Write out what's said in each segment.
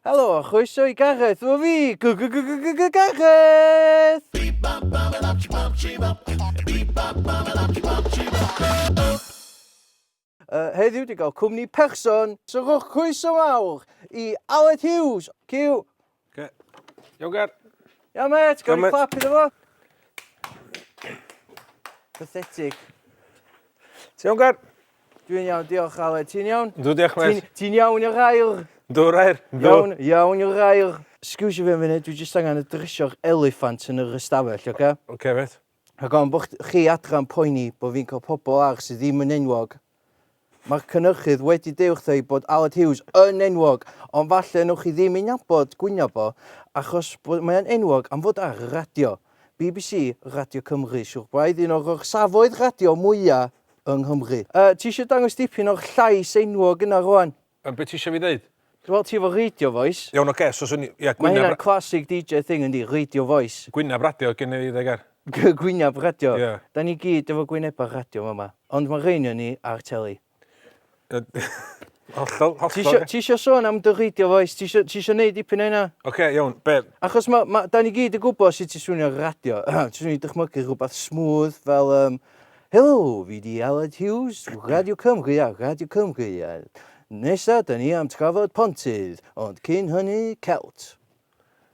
Helo a chroeso i Gareth, o fi! Gareth! Uh, heddiw di gael cwmni person, so rhowch croeso mawr i Aled Hughes. Cyw! Okay. Iawn, Gar. Iawn, met, gael ni clap iddo fo. Pathetic. Ti'n iawn, Gar? Dwi'n iawn, diolch Aled. Ti'n iawn? Dw, diolch Mel. Ti'n iawn i'r air? Dw, rair. Iawn, iawn i'r air. Sgwsio fi am funud, dwi jyst angen y drysio'r eliffant yn yr ystafell, oce? Oce, met. Ac o'n bod chi adran poeni bod fi'n cael pobl ar sydd ddim yn enwog. Mae'r cynnyrchydd wedi deud wrtho i bod Aled Hughes yn enwog, ond falle newch chi ddim ei nabod gwyno fo, achos bod mae'n enwog am fod ar y radio. BBC, Radio Cymru, siwr braidd un o'r orsafoedd radio mwyaf yng Nghymru. Yy, ti eisiau dangos dipyn o'r llais enwog yna rwan? Yy, be ti eisiau fi ddeud? Wel, ti efo radio voice. Iawn, oce, so swn i... Ie, gwyneb... Mae hynna'n classic DJ thing yndi, radio voice. Gwyneb radio gen i, dde Ger. Gwyneb radio? Ie. Da ni gyd efo gwynebau radio fama, ond mae rheiny o ni ar teli. Hollol, hollol. Ti eisiau sôn am dy reidio foes? Ti eisiau, ti eisiau neud dipyn o hynna? Oce, okay, iawn, be? Achos ma, ma, da ni gyd yn gwybod sut ti'n swnio radio. ti'n swnio i dychmygu rhywbeth smooth fel... Um, Helo, fi di Aled Hughes, Radio Cymru a Radio Cymru. A nesa, da ni am trafod pontydd, ond cyn hynny, celt.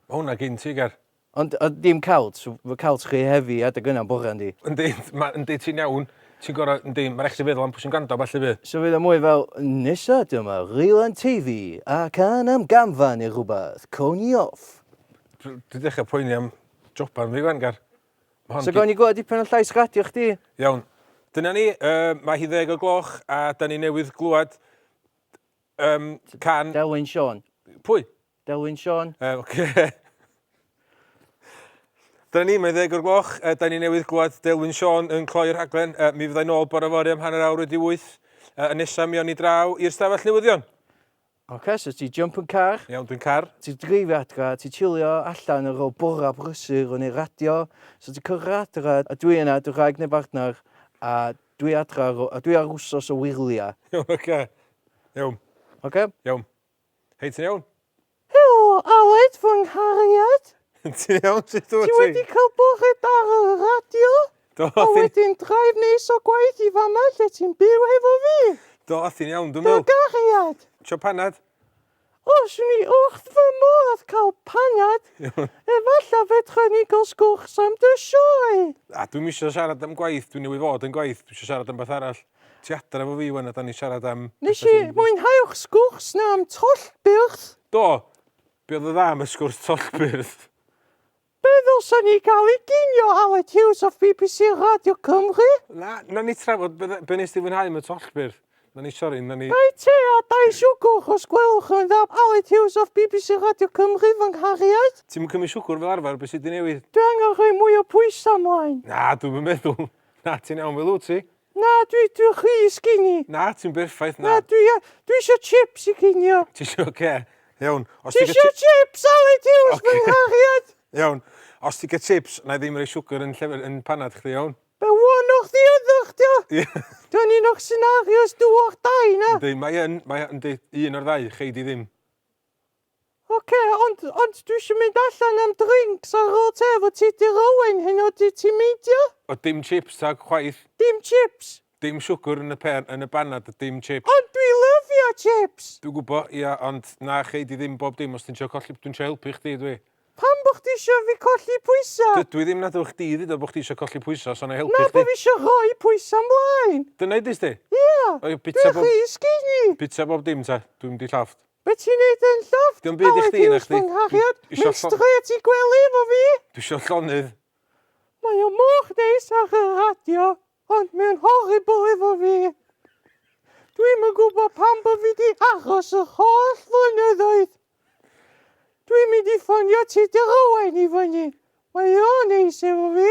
Mae hwnna gyn ti, Ger. Ond oedd dim cawt, so fy cawt chi yn heavy adeg yna am bore yndi? Yndi, ma- yndi ti'n iawn, ti'n gor'o', yndi, ma' rai' chdi feddwl am pwy sy'n gwrando a ballu 'fyd. So fydd o mwy fel, nesa dyma Rylan Teifi a cân am gamfa neu rwbath, cawn ni off. Dw- dwi dechra poeni am joban fi 'wan Gar. Ma' hon So 'di... gawn ni glywed dipyn o llais radio chdi? Iawn. Dyna ni, yy, mae hi ddeg o gloch a 'dan ni newydd glwad Yym, can... Delwyn Siôn. Pwy? Delwyn Siôn. Yy, oce. Dyna ni, mae'n ddeg o'r gloch. Uh, da ni newydd glwad Delwyn Siôn yn cloi'r rhaglen. Uh, mi fyddai nôl bore fori am hanner awr wedi wyth. Uh, yn nesaf mi o'n i draw i'r stafell newyddion. Oce, okay, so ti jump yn car. Iawn, dwi'n car. Ti dreifio adra, ti chilio allan ar ôl bora brysur o'n ei radio. So ti cyrra adra, a dwi yna, dy rhaeg neu bartner, a Dwi adra rw- a dwi ar wsos o wyrlia. Iawn oce. Iawn. Oce? Iawn. Hei ti'n iawn? Helo Aled fy nghariad. Ti'n iawn sut dwyt ti? Ti wedi cael bore da ar y radio? Do a wedyn drive neis o gwaith i fama lle ti'n byw hefo fi? Do ti'n iawn dwi'n meddwl. Dy gariad. Trio panad? Os ni wrth fy modd cael panad, efallaf fedra ni gael sgwrs am dy sioe! A, dwi'm isio siarad am gwaith, dwi newydd fod yn gwaith, dwi isio siarad am beth arall. Ti adra efo fi wan a 'dan ni'n siarad am petha sy'n... Nes i mwynhau'r sgwrs 'na am tollbyrth! Do! Be oedd yn dda am y sgwrs tollbyrth? Be ddylsan ni gael i ginio Aled Hughes off bbc Radio Cymru? Na, na ni trafod be, be nes ti fwynhau am y tollbyrdd. Na ni, sori, na ni... Dau te a dau siwgwr os gwelwch yn dda Aled Hughes off bbc Radio Cymru, fy nghariad. Ti'm yn cymryd siwgwr fel arfer, be sy' 'di newid? Dwi angen rhoi mwy o bwysau 'mlaen. Na, dwi'm yn meddwl. Na, ti'n iawn fel wyt ti. Na, dwi, dwi chi i sgini. Na, ti'n berffaith, na. Na, dwi, dwi isio chips i cinio. Ti isio, oce. Okay. Iawn. Ti isio chips, Ali Tiws, okay. bynghachiad? Iawn. Os ti gael chips, na i ddim rei siwgr yn, llefer, yn panad chdi, iawn? Be wan o'ch di ydych, dio? Ie. Dwi'n un o'ch scenarios dyw'ch dau, na? Ynddi, mae yn, mae yn, un o'r ddau, chei di ddim. Ok, ond, ond dwi isio mynd allan am drinks ar ôl te efo ti Dir Owen heno ydy ti'n meindio? O dim chips tag chwaith. Dim chips? Dim siwgr yn y pên, yn y banad a dim chips. Ond dwi lyfio chips! Dwi'n gwbo, ia, ond na chei di ddim bob dim os ti'n trio colli, dwi'n trio helpu chdi dwi. Pam bo chdi isio fi colli pwysa? Dydw i ddim, nad ewch chdi dduda bo chdi isio colli pwysa so na i helpu chdi. Na bo fi isio rhoi pwysa mlaen. Dyna idis di? Ia, dwi rhy skinny! Bita bob dim te, dwi'm di llofft. Be ti'n neud yn llofft? Dim byd i chdi na chdi. Mynd strêt i gwely efo fi! Dwi isio llonydd. Mae o mor neis ar y radio ond mae'n horrible efo fi. Dwi'm yn gwybod pam bo fi di aros yr holl flynyddoedd. Dwi'n mynd i ffonio Tudur Owain i fyny. Mae o'n neis efo fi.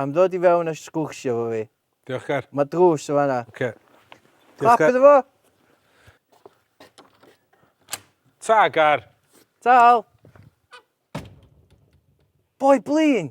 Am ddod i fewn a sgwrsio efo fi. Diolchgar. Mae drws yn fanna. Oce. Clap Diolchgar. iddo fo! Ta, Gar! Tal! Boi blin!